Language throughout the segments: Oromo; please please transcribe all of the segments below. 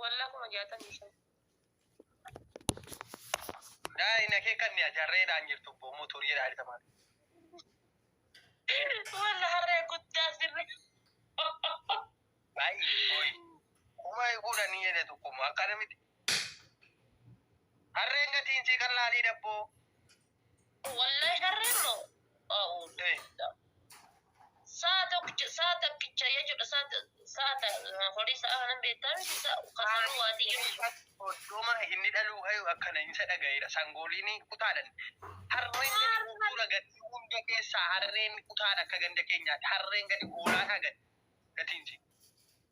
Wallah kuma jaatamii shan. Daa hin akeekanne ajarreedhaan jirtu obbo Muutuu jedhaa jirta maal. Wallah harree guddaa sirri. Baay'ee hoy. Kuma eeguudha ni jedhe tokko immoo akkana miti. Harreen gatiin sii kan laalii dabboo. Wallahi harreen moo a'uuzubillah sa'a tokkicha sa'a takkicha jechuudha sa'a ta- sa'a ta- horii sa'a kanan beektaa miti sa'a kasanuu waa xiyyoo jechuudha. Oddoma inni dhaluu hayu akkana insa dhaga'eera sangooliin kutaadhan harreen gadi gurguura gadi hunda keessaa harreen kutaadha akka ganda keenyaatti harreen gadi hoolaadhaa gadi gatiinsi.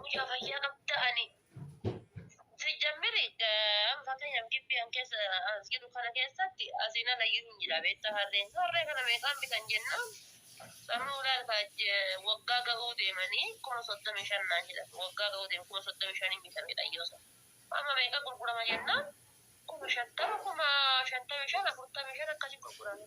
Mucaa fayyaa qabda ani. Sijjammiri fakkeenyaaf gibbii an keessa as jiru kana keessatti asiin alayyuu hin jira beektaa harreen. Harree kana meeqaan bitan jennaan amma ulaalkaa waggaa ga'uu deemanii kuma soddomii shan naan jedhan waggaa ga'uu deemu kuma soddomii shaniin bitamedha yoo sana. Amma meeqa gurgurama jennaan kuma shantama kuma shantamii shan afurtamii shan akkasii gurgurama.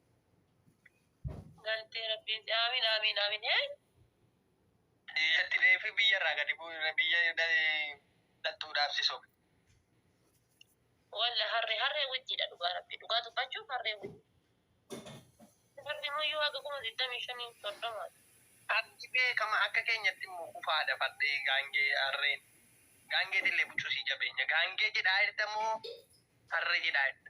Galtee rabbiin si amiin amiin amiin hee. Biyyatti deefi biyya irraa gadi bu'u biyya dhaltuudhaaf si sobe. Walla harree harree wajjidha dhugaa rabbi dhugaa dubbachuuf harree wajji. Rabbi muyyuu haga kuma digdamii shanii soddoma. Fardi beekama akka keenyatti immoo kufaadha fardi gaangee harreen gaangeetillee bucusii jabeenya gaangee jedhaa irta moo harree jedhaa irta.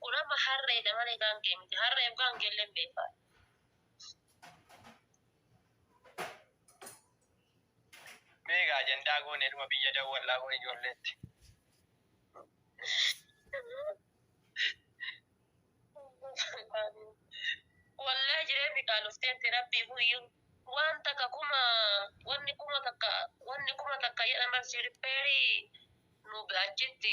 Kun amma harreedha malee gaangee miti. Harreef gaangeelleen beekaadha. Meegaa ajandaa goone dhuma biyya dawwallaa bor ijoolleetti. Wallahi jireen biqaa dhuftee miti rabbii guyyuu waan takka kuma wanni kuma takka wanni kuma takka jedhaman si rippeerii nu achitti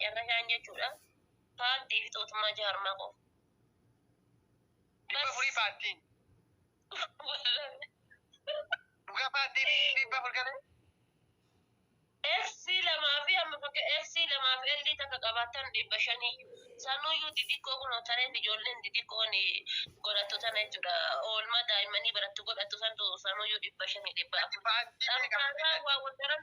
Carrashaan jechuudha. Paartii fi tootummaa jaarmaa qofa. Dhibba furii paartiin. Dhugaa paartiin dhibba fur galee. FC lamaa fi amma fakka FC lamaa fi L takka qabaatan dhibba shaniyyuu. Sanuyyuu xixiqqoo kun hotareen ijoolleen xixiqqoon godhattu tana jechuudha. Oolmaa daa'immanii barattu godhattu santu sanuyyuu dhibba shanii dhibba. Paartii Xankaataa waa wal daran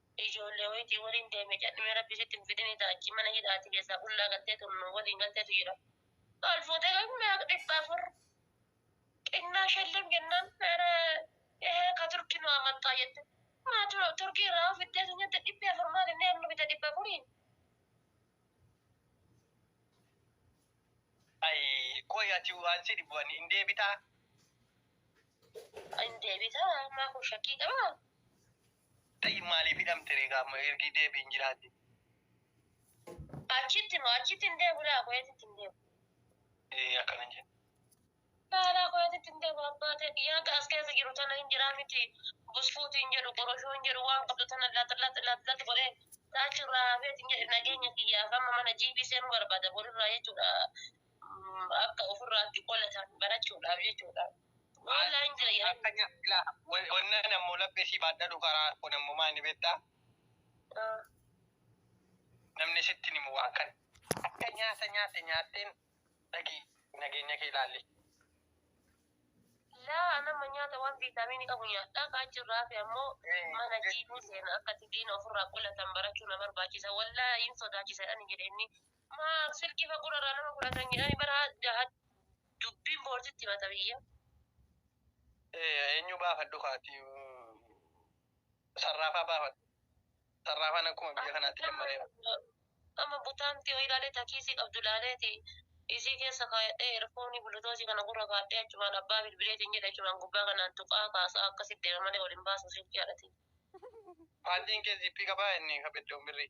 Ijoollee wayitii waliin deeme cadhimee rabbi sitti hin fidini ta'a achi mana hidhaati keessaa qullaa galteetu nu waliin galteetu jira. Maal fuutee kan meeqa dhibba afur xinnaa shellim jennaan ere ee ka turki nu amattaa jette. Maa tu- turkii irraa hoo fiddeetu nyatte dhibbi afur maal inni amma bita dhibba afuriin. Ay qoy ati waan si dhibu ani hin deebitaa. Hin deebitaa maa kun shakkii qabaa? Tayyib maaliif hidhamte ree gaa amma ergii deebi hin jiraate. Achitti moo achitti hin deebu laa kuweetitti hin deebu. Ee akkana hin jenna. Laalaa kuweetitti hin deebu abbaa ta'e biyyaa as keessa jiru tana hin jiraa miti busfuuti hin jedhu qoroshoo hin jedhu waan qabdu tana laata laata laata laata godhee taachu irraa hafeet hin jedhe nageenya kiyyaaf amma mana jiibii seenuu barbaada borirraa jechuudha akka ofirraatti qolatan barachuudhaaf jechuudha. Walla hin jira yaa. Akkanya ila wannan ammo laphee sii baadhadhu karaa kun ammo maa inni beetta Ah. namni sitti himu waan kan akka nyaata nyaatte nyaatteen dhaqii nageenya kee ilaalli. Laa anamma nyaata waan viitaamiinii qabu nyaadhaa kaa jirraa fi ammoo mana jiiduu seena akkati diina ofirraa qolatan barachuu na barbaachisa wallaa hin sodaachisa ani jedhe inni Maa silkii fa gura irraa nama fudhatan jedhani bara jahat dubbiin boorsitti himata biyya. Eenyu baafadhu kaati sarraafaa baafadhu sarraafaan akkuma biyya kanaatti jammareera. Amma butaamti yoo ilaalee takiisii qabdu ilaaleeti isii keessa kaayadhee erfoonii bulutoosii kana gurra kaadhee achumaan abbaa bilbileetiin jedhe achumaan gubbaa kanaan tuqaa kaasaa akkasitti deema malee wal hin baasu silkii haadhatiin. Paantiin kee ziippii qabaa inni ka beddoon birrii.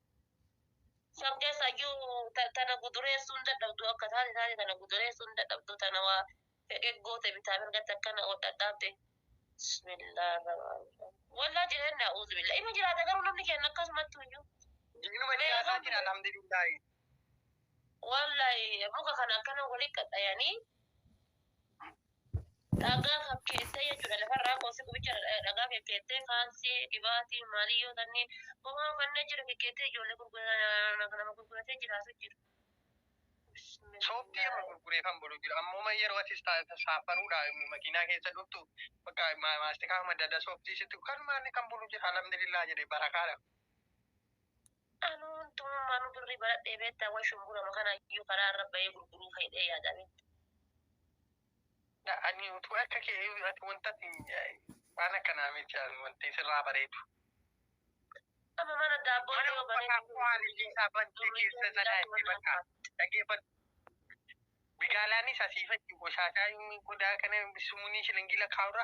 San keessa iyyuu ta- tana gudureessuu hin dadhabdu akka taate taate tana gudureessuu hin dadhabdu tana waa fedhe goote bitaa mirgatti akkana hodhadhaabde. Bismillah rahmaan rahim. Wallah jireen naa'uuzu billah. Inni jiraata garuu namni keenya akkasumatti iyyuu. Diinuma jiraataatiin alhamdulillahi. Wallahi muka kana akkana walitti qaxxayanii Dhagaa fakkeessee jechuudha lafarraa qoosee gubicha dhagaa kekkeettee kaalsii dhibaatii maalii yoo tanni homaa fannee jira kekkeettee ijoollee gurguratan nama gurguratee jiraatu jiru. Sooftii amma gurguree kan bulu jiru ammuma yeroo ati saaffaruudha makiinaa keessa dhuftu bakka maastikaa madda adda sooftii sitti kan maanni kan bulu jira alhamdulillah jedhe barakaadha. Anuu huntummaanuu birrii baradhee beektaa way shumburama kana iyyuu karaa irra bahee gurguruu fayyadee yaadaa beektaa. Ani utuu akka kee ati wanta ati waan akkanaa miti ani wanti sirraa bareedu. Amma mana daabboo Mana yoo banee uffataa koo haalillee isaa bantee keessa sana itti bakka dhageeffadhu. Bigaalaanis asii fachi qoshaataa inni qodaa kana sumuunii shilingii lakkaa'urra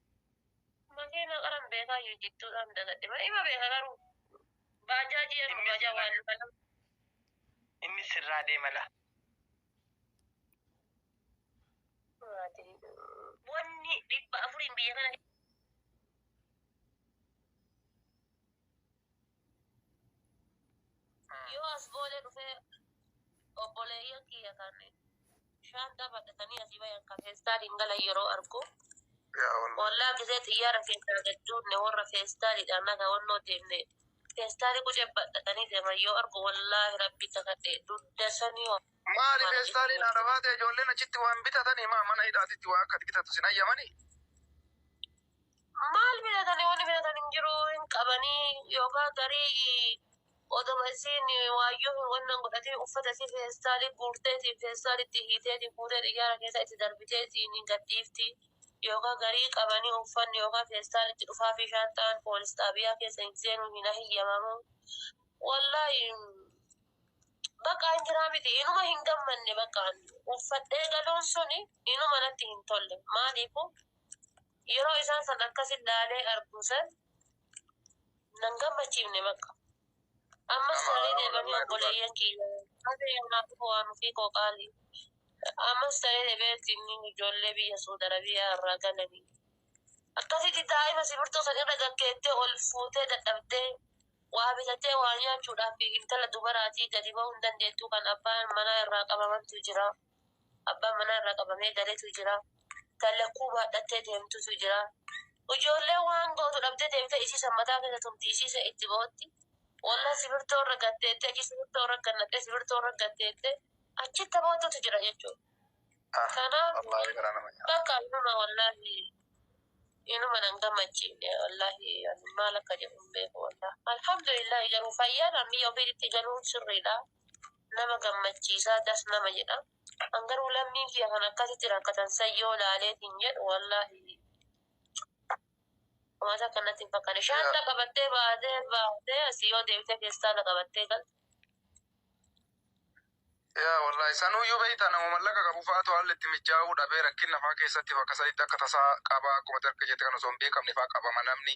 Makiina qaran beekaa yoo jidduudhaan dagadhe malee ima beeka garuu baajaajii yeroo Inni baajaa sirraa- waan luka lama Inni sirraa deema laa. maatii wanni dhibba afuriin biyya kana Yoo as boolee dhufee obboleeyyan kiyya kan shaanxaa badhatanii asii bayan kan feestaaliin galan yeroo argu Yaa Allah. wallaa gisee xiyyaara keessaa gad duunne warra feestaaliidhaan naga wannoo deemne feestaalii qucee badhatanii deeman yoo argu wallaahi rabbi kakadhe dudda sanii wa- Maali feestaaliin haadha baatee ijoolleen achitti waan bitatanii maa mana hidhaatitti waa akka bitatu sin hayyamanii? maal bitatanii wanni bitatan hin jiru hin qabanii yookaan garii odoma isiin waayyoo hin wannan godhatiin uffata isii feestaalii guurteetiin feestaalitti hiiteetiin fuutee xiyyaara keessa itti darbiteetiin hin gadhiifti yookaan garii qabanii uffanni yookaan feestaalitti dhufaa fi shaanxaan poolis xaabiyaa keessa hin seenuu hin ahiyyamamu wallaahi bakka hin jiraa miti inuma hin gammanne bakka uffadhee galuun suni inuma natti hin tolle maaliifu yeroo isaan san akkasin laalee arguu san nan gammachiifne bakka ammas Nama ta'ee haarawa deebanii lallaa obboleeyyan kiyya haadha yoonaaf waan ofii koo qaali ammas ta'ee deebee ittiin ijoollee biyya suud arabiyaa irraa galanii akkasitti daa'ima simirtoo san irra gaggeettee ol fuutee dadhabdee waa bitattee waa nyaachuudhaaf intala dubaraatii gadi ba'uu hin dandeettuu kan abbaan manaa irraa qabamantu jira. Abbaan manaa irraa qabamee galetu jira. Tan lakkuu baadhattee deemtutu jira. Ijoolleen waan gootu dhabdee deemtee isii san mataa keessa tumti. Isii san itti bootti. Wallah sibirtoo irra gad teettee achi sibirtoo irra gannattee sibirtoo irra gad teettee achitti taphootutu jira jechuudha. Kanaaf Wallaahi garaa nama nyaata. bakka inuma wallaahi inuma nan gammachiifne wallaahi ani maal akka jedhu hin beeku wallaahi. Alhamdulillahi garuu fayyaan ammiyya ofiititti galuun sirriidha. nama gammachiisa das nama jedha an garuu lammiin kiyya kan akkasitti rakkatan san yoo laaleetiin jedhu wallaahi waan takka natti hin fakkaanne shaanta qabattee baatee baatee asii yoo deebitee feestaala qabattee galte yaa wallahi sanuyyuu beeyta nama mallaqa qabu fa'aatu haalli itti mijaa'uu dhabee rakkina fa'aa keessatti bakka sanitti akka tasaa qabaa akkuma ati akka jette kan osoo hin beekamne fa'aa qabama namni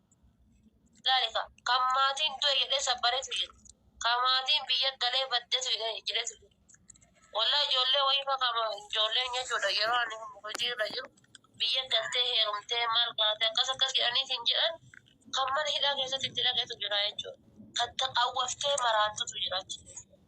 Ilaali ka, kan maatiin du'e jedhee sabbaretu jira. Kan maatiin biyya galee baddetu jedhee jedhetu jira. Walaa ijoollee wayii fa kama ijoollee nyachuudha yeroo ani hojii irra jiru biyya galtee heerumtee maal baate akkas akkas jedhanii siin jedhan kan mana hidhaa keessatti itti dhaqetu jira jechuudha. Kan taqawwaftee maraattutu jira achi keessa.